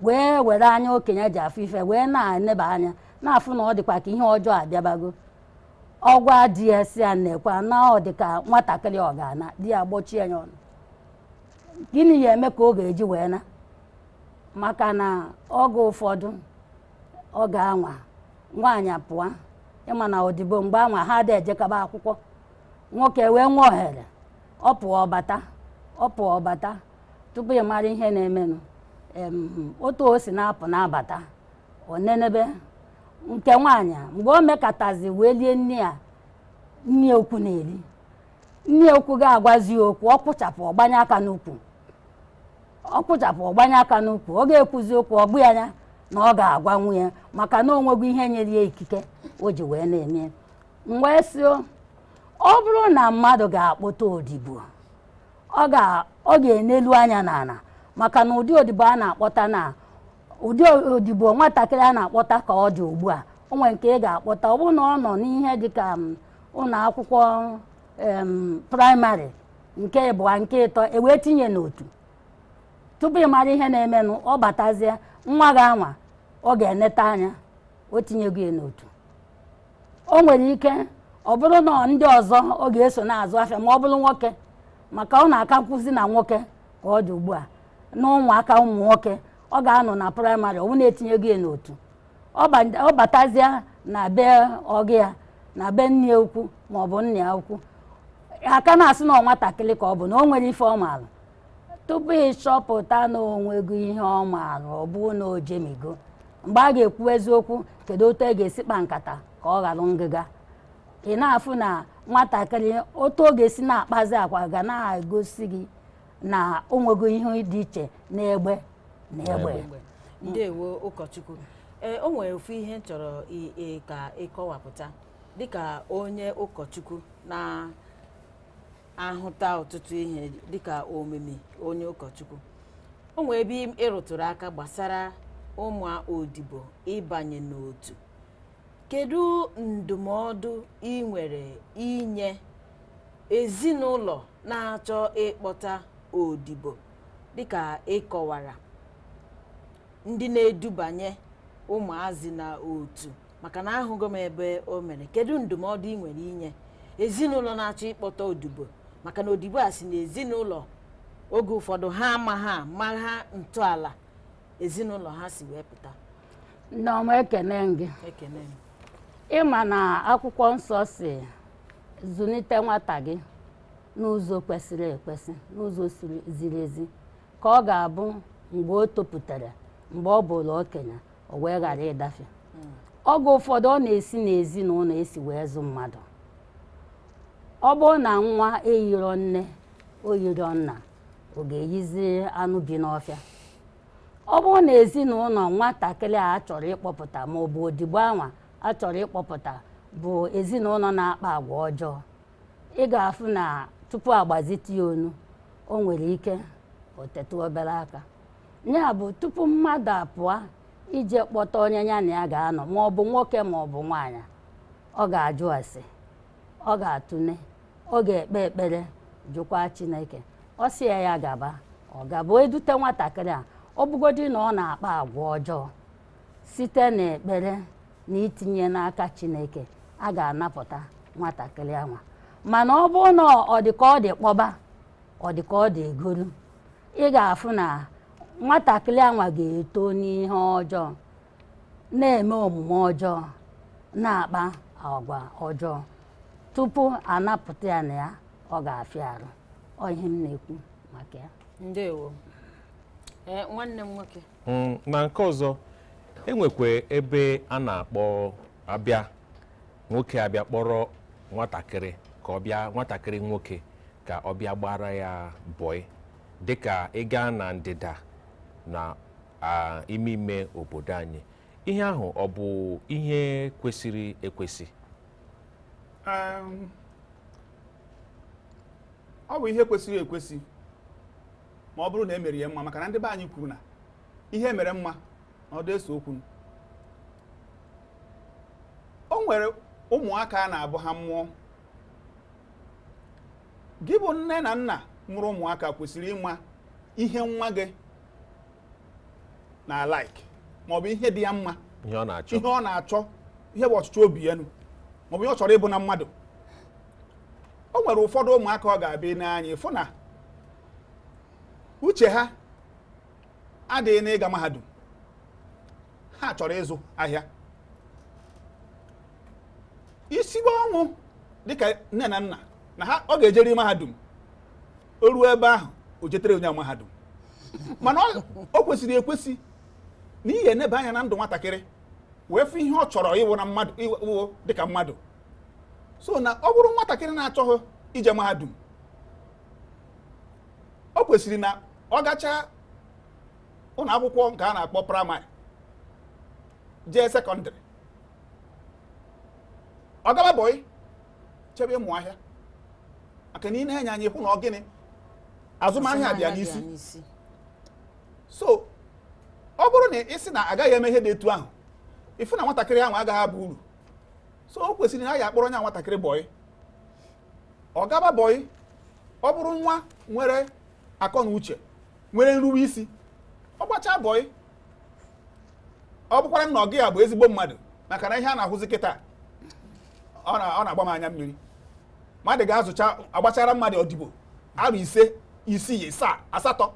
wee were anya okenye ji afụ ife wee na-eneba anya na-afụ na ọ dịkwa ka ihe ọjọọ abịabago ọ gwa di ya sị ya nekwa na ọ dị ka nwatakịrị ọ ga-ana di ya gbochie ya ọnụ gịnị ya eme ka ọ ga-eji wee naa maka na oge ụfọdụ oge anwa nwaanyị pụa ị ma na odibo mgbe anwa ha adị ejekaba akwụkwọ nwoke wee nwee ohere ọ pụa ọ bata ọ pụa ọ bata tupu ị mara ihe na-emenụ em, otu o si na-apụ na-abata ọ nenebe nke nwaanyị a, mgbe o mekatazi wee lie nni a nne ya ukwu na-eli nne ya ukwu ga-agwazi ya okwu ọ kwụchapụ ọ gbanye aka n'ukwu ọ kwụchapụ ọ gbanye aka n'ukwu ọ ga-ekwuzi okwu ọ bụ ya anya na ọ ga-agwa nwunye maka na o nwego ihe nyere ya ikike o ji wee na-eme m wee sị ọ bụrụ na mmadụ ga-akpọta odibo ọ ga-enelu anya n'ana maka na ụdị odibo a na-akpọta na ụdị odibo nwatakịrị a na-akpọta ka ọ dị ugbu a o nwere nke ị ga-akpọta ọ bụrụ na ọ nọ n'ihe dịka ụnọ akwụkwọ primary nke ịbụa nke ịtọ e wee tinye n'otu tupu ị mara ihe na-emenụ ọ batazie nwa gị anwa ọ ga-eneta anya o tinyego ya n'otu o nwere ike ọ bụrụ na ndị ọzọ ọ ga-eso na-azụ afịa ma ọ bụrụ nwoke maka ọ na-akakwuzi na nwoke ka ọ dị ugbu a na ụmụaka ụmụ nwoke ọ ga-anọ na primary ọ bụ na e tinyego ya n'otu ọ batazịa na be ọga ya na be nne ya ukwu ma ọ bụ nna ya ukwu a ka na-asị na nwatakịrị ka ọ bụ na o nwerọ ife ọ maara tupu ị chọpụta na o nwego ihe ọ maara ọ bụ na o jemigo mgbe a ga-ekwu eziokwu kedu otu e ga-esi kpa nkata ka ọ ghọrọ ngịga ị na-afụ na nwatakịrị otu ọ ga-esi na-akpazi agwa ga na-egosi gị na o nwego ihe dị iche n'egbe na egbe ndewo ụkọchukwu ee o nwere ofu ihe m chọrọ i- i- ka ị kọwapụta dịka onye ụkọchukwu na-ahụta ọtụtụ ihe dịka omimi onye ụkọchukwu o nwere ebe ị rụtụrụ aka gbasara ụmụ odibo ịbanye n'otu kedu ndụmọdụ ị nwere inye ezinụlọ na-achọ ịkpọta odibo dịka ị kọwara ndị na-edubanye ụmụazị na otu maka na ahụgo m ebe o mere kedu ndụmọdụ ị nwere inye ezinụlọ na-achọ ịkpọta odibo maka na odibo a si n'ezinụlọ oge ụfọdụ ha amaha amaha ntọala ezinụlọ ha si wee pụta nneọma ekene m gị ị ma na akwụkwọ nsọ sị zụlite nwata gị n'ụzọ kwesịrị ekwesị n'ụzọ ziri ezi ka ọ ga-abụ mgbe o topụtara mgbe ọ bụrụ okenye o wee ghara ịdafe oge ụfọdụ ọ na-esi n'ezinụlọ e si wee zụ mmadụ ọ bụrụ na nwa eyiro nne o yiro nna ọ ga-eyizi anụ bi n'ọfịa ọ bụrụ na ezinụlọ nwatakịrị a chọrọ ịkpọpụta ma ọ bụ odibo anwa a chọrọ ịkpọpụta bụ ezinụlọ na-akpa agwa ọjọọ ị ga-afụ na tupu a gbazite ya onu o nwere ike o tetụ obere aka ya bụ tupu mmadụ apụọ ije kpọta onye ya na ya ga-anọ ma ọ bụ nwoke ma ọ bụ nwaanyị ọ ga-ajụ ase ọ ga-atụne ọ ga-ekpe ekpere jụkwa chineke ọ sị ya ya gaba ọ gaba e dute nwatakịrị a ọ bụgodị na ọ na-akpa agwa ọjọọ site n'ekpere na itinye n'aka chineke a ga-anapụta nwatakịrị anwa mana ọ bụrụ na ọ dị ka ọ dị kpọba ọ dị ka ọ dị egolu ị ga-afụ na nwatakịrị anwa ga-eto n'ihe ọjọọ na-eme omume ọjọọ na-akpa agwa ọjọọ tupu a napụta ya na ya ọ ga-afịa arụ ọ ihe m na-ekwu maka ya ndewo ee nwanne m nwoke Mm, na nke ọzọ e nwekwa ebe a na-akpọ abịa nwoke abịa kpọrọ nwatakịrị ka ọ bịa nwatakịrị nwoke ka ọ bịa gbaara ya bọị dịka ị gaa na ndịda na a ime ime obodo anyị ihe ahụ ọ bụ ihe kwesịrị ekwesị Em, ọ bụ ihe kwesịrị ekwesị ma ọ bụrụ na e mere ya mma maka na ndị be anyị kwuru na ihe mere mma na ọ dị ese okwu o nwere ụmụaka a na-abụ ha mụọ gị bụ nne na nna mụrụ ụmụaka kwesịrị ịma ihe nwa gị na like maọbụ ihe dị ya mma ihe ọ na-achọ ihe bụ ọchịchọ obi ya nụ maọbụ ihe ọ chọrọ ịbụ na mmadụ o nwere ụfọdụ ụmụaka ọ ga-abụ i nee anya ị fụ na uche ha adịghị n'ịga mahadum ha chọrọ ịzụ ahịa i sibe ọnwụ dịka nne na nna na ha ọ ga-ejeri mahadum o ruo ebe ahụ o jetere onye mahadum mana o kwesịrị ekwesị na ị ya-enebe anya na ndụ nwatakịrị wee fụ ihe ọ chọrọ ịwụ na mmadụ ịwụ dịka mmadụ so na ọ bụrụ nwatakịrị na-achọghị ije mahadum o kwesịrị na ọ gacha ụlọ akwụkwọ nke a na-akpọ primary jee secondary ọ gaba bọị jebe ịmụ ahịa maka na i nee nya anya ị hụ na ọ gịnị azụmahịa dị ya n'isi so ọ bụrụ na ị sị na agaghị eme ihe dị etu ahụ ị fụ na nwatakịrị ahụ agaghị aba uru so o kwesịrị na a ya-akpọrọ nya nwatakịrị bọị ọ gaba bọị ọ bụrụ nwa nwere akọ na uche nwere nrube isi ọ gbachaa bọị ọ bụkwara na ọga ya bụ ezigbo mmadụ maka na ihe a na-ahụzi kịta ọ na-agba m anya mmiri mmadụ ga-azụcha agbachara mmadụ odibo arọ ise isii isaa asatọ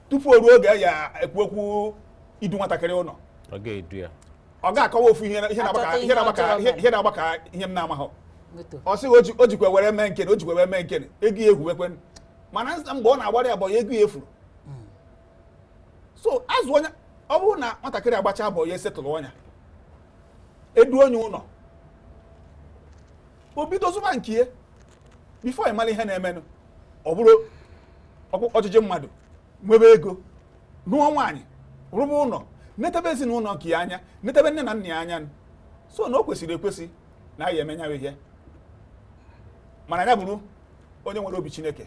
tupu o ruo oge a ya-ekwu okwu idu nwatakịrị ụlọ ọ ga-akọwa ofu ihe na-agba ka ihe m na-amaghị ọ sị o jikwa were mee nkene o jikwa were mee nkene ego ya efuwekwe mana mgbe ọ na-agbara ya bọị ego ya efuro so azụ onye ọ bụrụ na nwatakịrị agbachaa bọị a settle nya e duo nya ụlọ o bido zụba nke ya before ị mara ihe na-emenụ ọ bụrụ ọchịchị mmadụ nwebe ego nụọ nwaanyị rụba ụlọ netebe ezinụlọ nke ya anya netebe nne na nna ya anya so na o kwesịrị ekwesị na a ya-eme nya wụ ihe mana ya bụrụ onye nwere obi chineke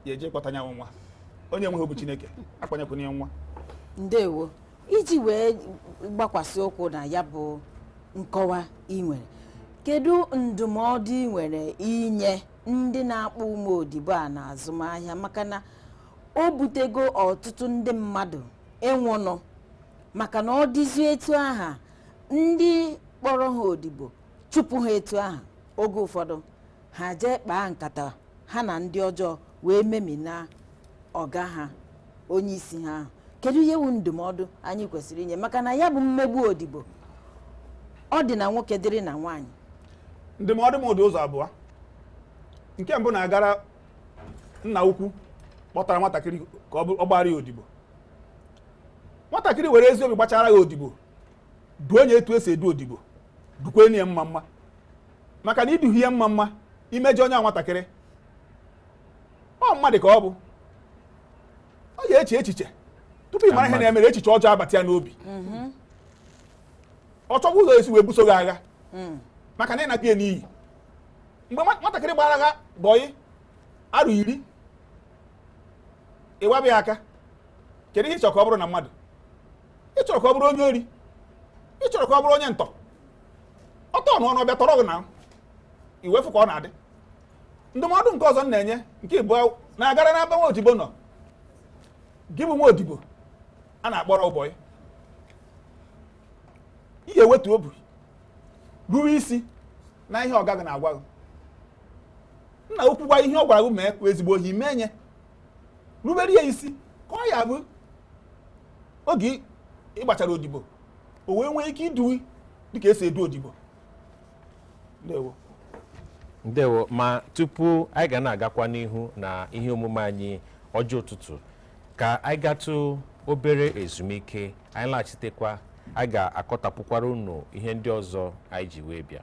ya eje kpọta nya wụ nwa onye nweghị obi chineke akpọnyekwana ya nwa ndewo iji wee gbakwasị ụkwụ na ya bụ nkọwa ị nwere kedu ndụmọdụ ị nwere inye ndị na-akpọ ụmụ odibo a na azụmahịa maka na o butego ọtụtụ ndị mmadụ ịnwụnụ maka na ọ dịzi etu aha ndị kpọrọ ha odibo chụpụ ha etu aha oge ụfọdụ ha jee kpaa nkata ha na ndị ọjọọ wee memina ọga ha onye isi ha ahụ kedu ihe wu ndụmọdụ anyị kwesịrị inye maka na ya bụ mmegbu odibo ọ dị na nwoke dịrị na nwaanyị ndụmọdụ m dị ụzọ abụọ nke mbụ na-agara nna ukwu kpọtara nwatakịrị ka ọ gbara ya odibo nwatakịrị were ezi obi gbachara ya odibo duo nya etu esi edu odibo dukwanụ ya mma mma maka na i duhi ya mma mma imejọ onye a nwatakịrị ọ mmadụ ka ọ bụ ọ ya eche echiche tupu ị mara ihe na-emere echiche ọjọọ abata ya n'obi mm-hmm. ọ chọba ụzọ esi wee buso gị agha mm. maka na ị napịa ya n'iyi mgbe nwatakịrị gbara gị bọyị arọ iri ị gbaba ya aka kedu ihe ị chọ ka ọ bụrụ na mmadụ ị chọrọ ka ọ bụrụ onye ori ị chọrọ ka ọ bụrụ onye ntọ ọtọ ọnụ ọnụ ọ bịa tọrọ gị na i wee fụ ka ọ na-adị ndụmọdụ nke ọzọ m na-enye nke ịbụọ na-agara n'ebe nwa odibo nọ gị bụ nwa odibo a na-akpọrọ bọyị ị ya ewetu obi ruwe isi na ihe ọga gị na-agwa gị nna ukwu gwa ihe ọ gwara gị mee kwa ezigbo obi mee nya rubere ya isi ka ọ ya abụ oge ị gbachara odibo o wee nwee ike idu gị dịka esi edu odibo ndewo ndewo ma tupu anyị ga na-agakwa n'ihu na ihe omume anyị ọjị ụtụtụ ka anyị gatụ obere ezumike anyị laghachitekwa anyị ga-akọtapụkwara unu ihe ndị ọzọ anyị ji wee bịa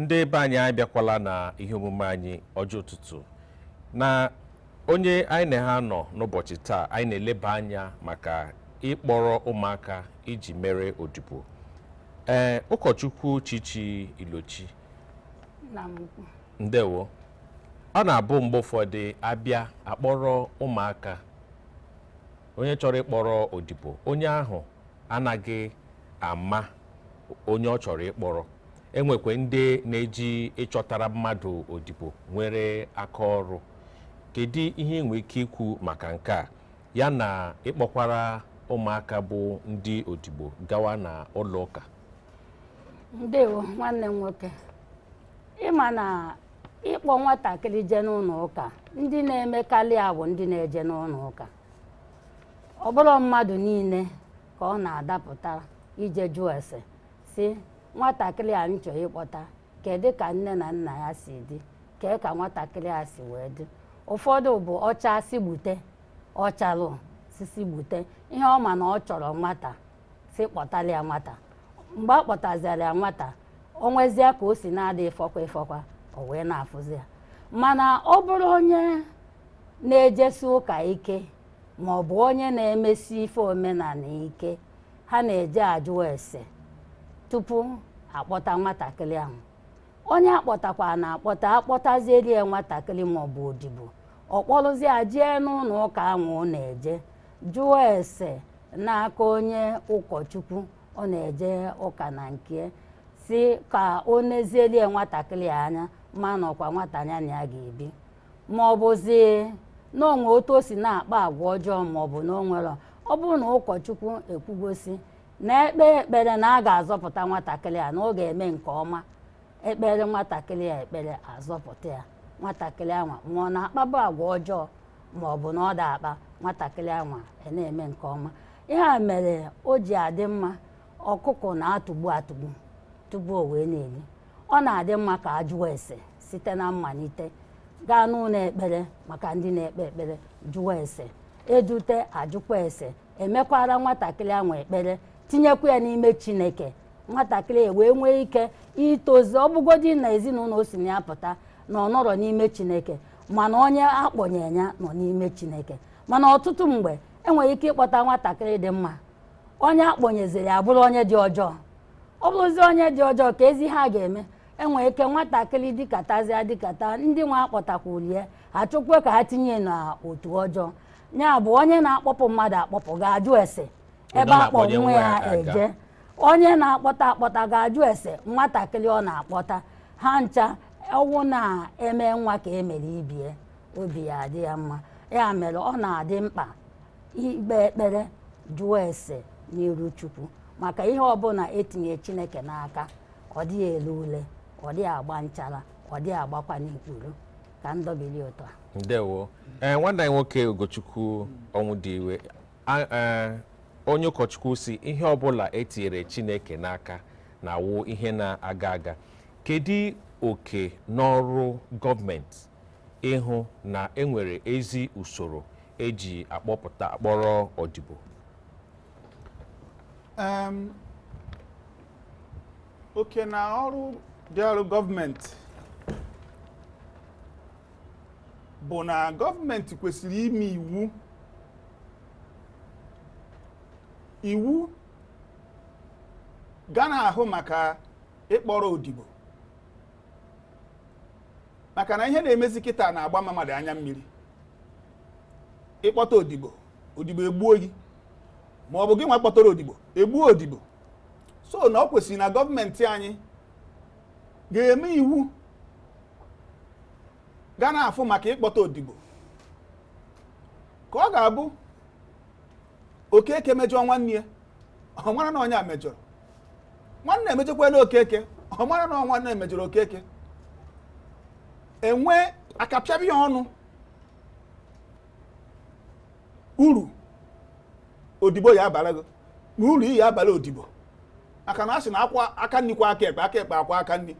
ndị be anyị anyị abịakwala na ihe omume anyị ọjị ụtụtụ na onye anyị na ha nọ n'ụbọchị taa anyị na-eleba anya maka ịkpọrọ ụmụaka iji mere odibo ee ụkọchukwu chichi ilochi ndewo ọ na-abụ mgbe ụfọdụ abịa akpọrọ ụmụaka onye chọrọ ịkpọrọ odibo onye ahụ anaghị ama onye ọ chọrọ ịkpọrọ enwekwe ndị na-eji ịchọtara mmadụ odibo nwere aka ọrụ kedu ihe i nwere ike ikwu maka nke a ya na ịkpọkwara ụmụaka bụ ndị odibo gawa na ụlọ ụka ndewo nwanne m nwoke ị ma na ịkpọ nwatakịrị jee n'ụlọ ụka ndị na-emekarị ya bụ ndị na-eje n'ụlọ ụka ọ bụrọ mmadụ niile ka ọ na-adapụtara ije jụọ ese si nwatakịrị a m chọrọ ịkpọta kedu ka nne na nna ya si dị kee ka nwatakịrị a si wee dị ụfọdụ bụ ọcha si gbute ọcharọ si si gbute ihe ọ ma na ọ chọrọ nwata si kpọtara ya nwata mgbe a kpọtazịara ya nwata o nwezie ka o si na-adị ịfụkwa ịfụkwa o wee na-afụzi ya mana ọ bụrụ onye na-ejesi ụka ike ma ọ bụ onye na-emesi ife omenala ike ha na-eje ajụ ese tupu akpọta nwatakịrị ahụ onye akpọtakwa na akpọta akpọtazieri ya nwatakịrị maọbụ odibo ọ kpọrụzi ya jee n'ụlọ ụka ahụ ọ na-eje jụọ ese n'aka onye ụkọchukwu ọ na-eje ụka na nke si ka o nezieri ya nwatakịrị a anya ma na ọkwa nwata ya na ya ga-ebi ma ọ bụzi na o nwe otu o si na-akpa agwa ọjọọ ma ọ bụ na o nwere ọ bụrụ na ụkọchukwu ekwugo si na ekpee ekpere na a ga-azọpụta nwatakịrị a na ọ ga-eme nke ọma ekpeere nwatakịrị a ekpere azọpụta ya nwatakịrị anwa ma ọ na-akpabu agwa ọjọọ ma ọ bụ na ọ da akpa nwatakịrị anwa e na-eme nke ọma ihe a mere o ji adị mma ọkụkọ na-atụgbu atụgbu tupu o wee na-eri ọ na-adị mma ka a jụọ ese site na mmalite gaa n'ụlọ ekpere maka ndị na-ekpe ekpere jụwa ese edute ajụkwa ese emekwara nwatakịrị ahụ ekpere tinyekwa ya n'ime chineke nwatakịrị e wee nwee ike itozi ọbụgodi na ezinụlọ o si na ya pụta na ọ nọrọ n'ime chineke mana onye akpọnye ya nọ n'ime chineke mana ọtụtụ mgbe enwere ike ịkpọta nwatakịrị dị mma onye akpọnyeziri abụrụ onye dị ọjọọ ọ bụrụzi onye dị ọjọọ keezi ihe a ga-eme enwere ike nwatakịrị dịkatazịa dịkata ndị nwa akpọtakwulu ya achọkwa ka ha tinye n'otu ọjọọ ya bụ onye na-akpọpụ mmadụ akpọpụ ga-ajụ ese ebe akpọ nwa ya eje onye na-akpọta akpọta ga-ajụ ese nwatakịrị ọ na-akpọta ha ncha ọ wụ na eme nwa ka emere ibie obi ya adị ya mma ya mere ọ na-adị mkpa ikpe ekpere jụọ ese n'iru chukwu maka ihe ọbụla etinye chineke n'aka ọ dịghị ele ule ọ dịghị agba nchara ọ dịghị agbakwanụ ikpuru ka m dọbili otu a ndewo ee nwanne anyị nwoke ugochukwu ọnwụdiwe A- ee, onye ụkọchukwu sị ihe ọbụla etinyere chineke n'aka na-awụ ihe na-aga aga kedu oke na ọrụ gọọmenti ịhụ na enwere ezi usoro eji akpọpụta akpọrọ odibo Em, oke na ọrụ dịịrụ gọọmenti bụ na gọọmenti kwesịrị ime iwu iwu ga na-ahụ maka ịkpọrọ odibo maka na ihe na-emezi kịta na-agba mmadụ anya mmiri ịkpọta odibo odibo egbuo gị ma ọ bụ gị nwa kpọtara odibo egbuo odibo so na ọ kwesịrị na gọọmenti anyị ga-eme iwu ga na-afụ maka ịkpọta odibo ka ọ ga-abụ okeke mejọọ nwanne ya ọ mara na onye a mejọrọ nwanne mejọkwanụ okeke ọ mara na nwanne mejọrọ okeke enwe akapịaba ya ọnụ uru odibo ya-abara gị na uru ị ya-abara odibo maka na a sị na aka aka nri kwọọ aka ekpe aka ekpe akwọọ aka nri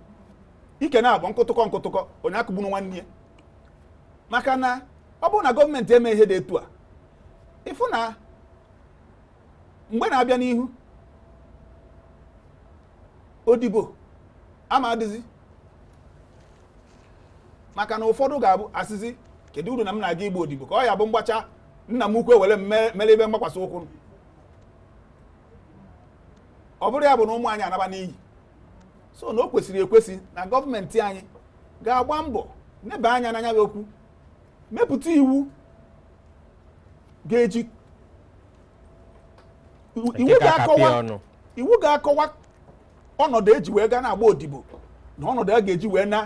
ike na-abụ nkụtụkọ nkụtụkọ onye akụgbuna nwanne ya maka na ọ bụrụ na gọọmenti eme ihe dị etu a ịfụ na mgbe na-abịa n'ihu odibo ama adịzi maka na ụfọdụ ga-abụ asịzi kedu uru na m na-aga ịgba odibo ka ọ ya-abụ m gbachaa nna m ukwu ewere m mere ebe mgbakwasị ụkwụ ọ bụrụ ya bụ na ụmụ anyị anaba n'iyi so na o kwesịrị ekwesị na gọọmenti anyị ga-agba mbọ neba anya na nya bụ okwu mepụta iwu ga-eji iwu ga-akọwa ọnọdụ eji wee gaa na-agba odibo na ọnọdụ a ga-eji wee na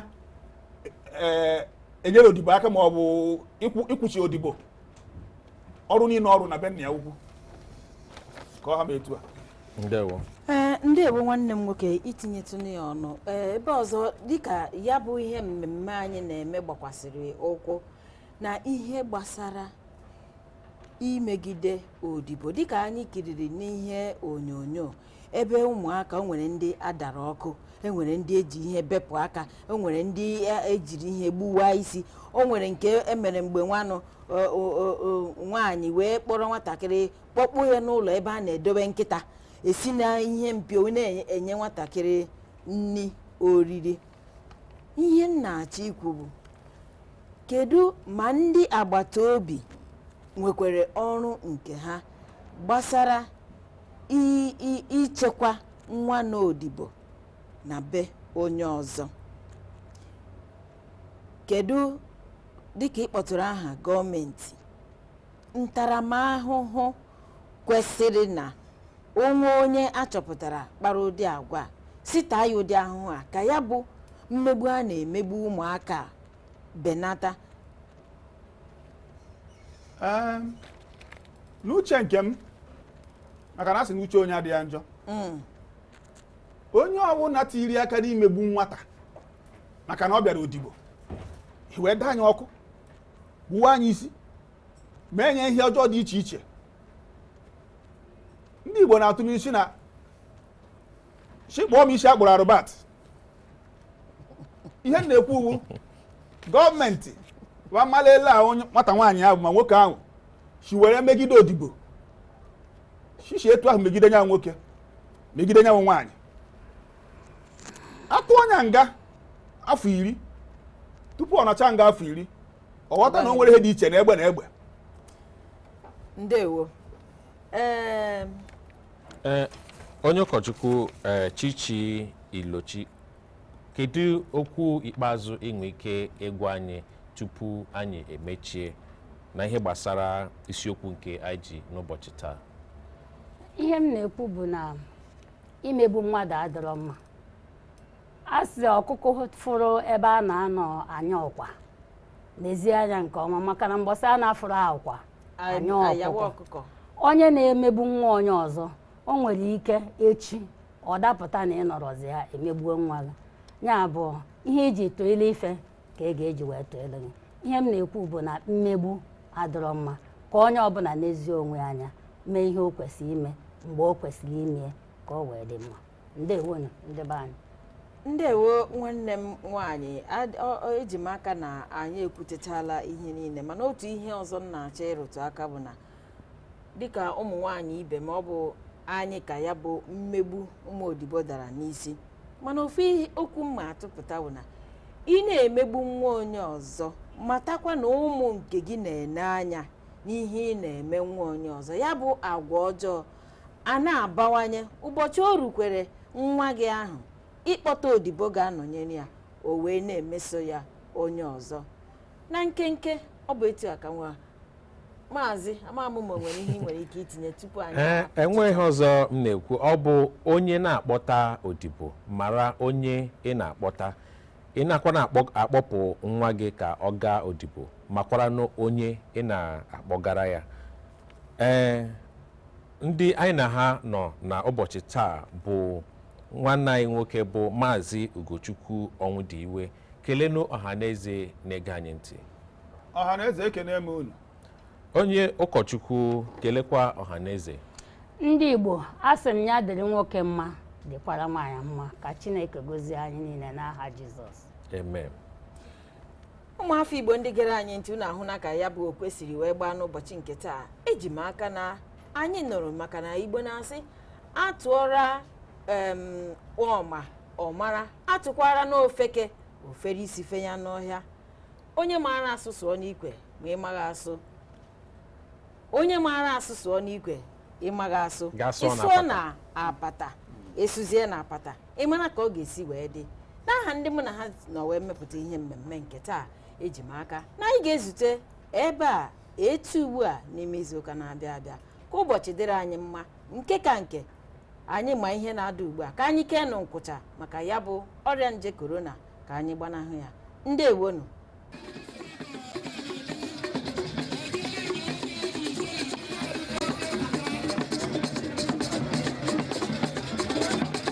e, enyere odibo aka ma ọ bụ ịkwụchi odibo ọrụ niile ọ rụ na be nna ya ukwu ka ọ ha m etu a ndewo ee ndewo nwanne m nwoke itinyetụnụ ya ọnụ ee ebe ọzọ dịka ya bụ ihe mmemme anyị na-eme gbakwasịrị ụkwụ na ihe gbasara imegide odibo dịka anyị kiriri n'ihe onyonyo ebe ụmụaka o nwere ndị a dara ọkụ e nwere ndị eji ihe bepụ aka o nwere ndị e- ejiri ihe gbuwaa isi o nwere nke emere mgbe nwanụ o- o- o- o- nwaanyị wee kpọrọ nwatakịrị kpọkpụ ya n'ụlọ ebe a na-edobe nkịta esi na ihe mpio wee na-enye nwatakịrị nri oriri ihe m na-achọ ikwu bụ kedu ma ndị agbata obi nwekwara ọrụ nke ha gbasara i- i- ichekwa nwa nọ odibo na be onye ọzọ kedu dịka ị kpọtụrụ aha gọọmenti ntaramahụhụ kwesịrị na o nwee onye a chọpụtara kpara ụdị agwa a, sị taa ya ụdị ahụhụ a ka ya bụ mmegbu a na-emegbu ụmụaka a benata Ee, n'uche nke m maka na a sị na uche onye adịghị ya njọ mm. onye ọbụla tiri aka n'imegbu nwata maka na ọ bịara odibo wee daa nya ọkụ gbuwaa nya isi mee nya ihe ọjọọ dị iche iche ndị Igbo na-atụ inu sị na shị kpụọ m isi a kpụrụ Albert ihe m na-ekwu wụ gọọmenti wa mmalele a nwata nwaanyị ahụ ma nwoke ahụ si were megide odibo shishi etu ahụ megide nya nwoke megide nya wụ nwaanyị a tụọ nya nga afọ iri tupu ọ nọchaa nga afọ iri ọ ghọta na o nwere ihe dị iche na egbe na egbe ndewo ee eh, onye ụkọchukwu eh, chichi ilochi kedu okwu ikpeazụ i nwe ike ịgwa anyị tupu anyị emechie na ihe gbasara isiokwu nke anyị ji n'ụbọchị taa ihe m na-ekwu bụ na imegbu mmadụ adịrọ mma a sị ọkụkọ fụrụ ebe a na-anọ anya ọkwa nezie anya nke ọma maka na mgbọsị a na-afụrụ ọkwa anya ayawa ọkụkọ ọkụkọ onye na-emegbu nwa onye ọzọ o nwere ike echi ọ dapụta na ị nọrọzi ya e megbuo nwa gị ya bụ ihe i ji tụọ ile ife ka a ga-eji wee tụọlụ gị ihe m na-ekwu bụ na mmegbu adịrọ mma ka onye ọbụla nezie onwe ya anya mee ihe o kwesịrị ime mgbe o kwesịrị ime ya ka o wee dị mma ndewonu ndị be anyị ndewo nwanne m nwaanyị ad- ọ- ọ- eji m aka na anyị ekwuchachala ihe niile mana otu ihe ọzọ m na-achọ ịrụtụ aka bụ na dịka ụmụ nwaanyị ibe m ọ bụ anyị ka ya bụ mmegbu ụmụ odibo dara n'isi mana ofu ihe- okwu m ma-atụpụta bụ na ị na-emegbu nwa onye ọzọ matakwa na ụmụ nke gị na-ene anya n'ihe ị na-eme nwa onye ọzọ ya bụ agwa ọjọọ a na-abawanye ụbọchị o rukwere nwa gị ahụ ịkpọta odibo ga-anọnyere ya o wee na-emeso ya onye ọzọ na nkenke ọ bụ etu a ka nwa maazị ama m ma o nwere ihe ị nwere ike itinye tupu anyị ee enweghị ihe ọzọ m na-ekwu ọ bụ onye na-akpọta odibo mara onye ị na-akpọta ị nakwanụ akpọ- akpọpụ nwa gị ka ọ gaa odibo makwaranụ onye ị na-akpọgara ya ee ndị anyị na ha nọ na ụbọchị taa bụ nwanne anyị nwoke bụ maazị ugochukwu ọnwụdiwe kelenụ ọha na eze na-ege anyị ntị ọha na eze ekenee m unu onye ụkọchukwu kelekwa ọha na eze ndị igbo asị m ya dịrị nwoke mma dịkwara nwaanyị mma ka chineke gozie anyị niile n'aha jizọs amen ụmụafọ igbo ndị gere anyị ntị unu ahụna ka ya bụ okwe siri wee gbaa n'ụbọchị nke taa eji m aka na anyị nụrụ maka na igbo na-asị atụọra ọma ọ mara atụkwaranụ ofeke o fere isi fenya n'ọhịa onye maara asụ sụọ n'ikwe ma ị maghị asụ onye maara asụ sụọ n'ikwe ị maghị asụ ị sụọ na apata ị sụzie na apata ị mara ka ọ ga-esi wee dị n'aha ndị mụ na ha nọ wee mepụta ihe mmemme nke taa eji m aka na anyị ga-ezute ebe a etu ugbu a n'ime izuụka na-abịa abịa ka ụbọchị dịrị anyị mma nke ka nke anyị ma ihe na-ada ugbu a ka anyị keenụ nkwụcha maka ya bụ ọrịa nje korona ka anyị gbanahụ ya ndewonu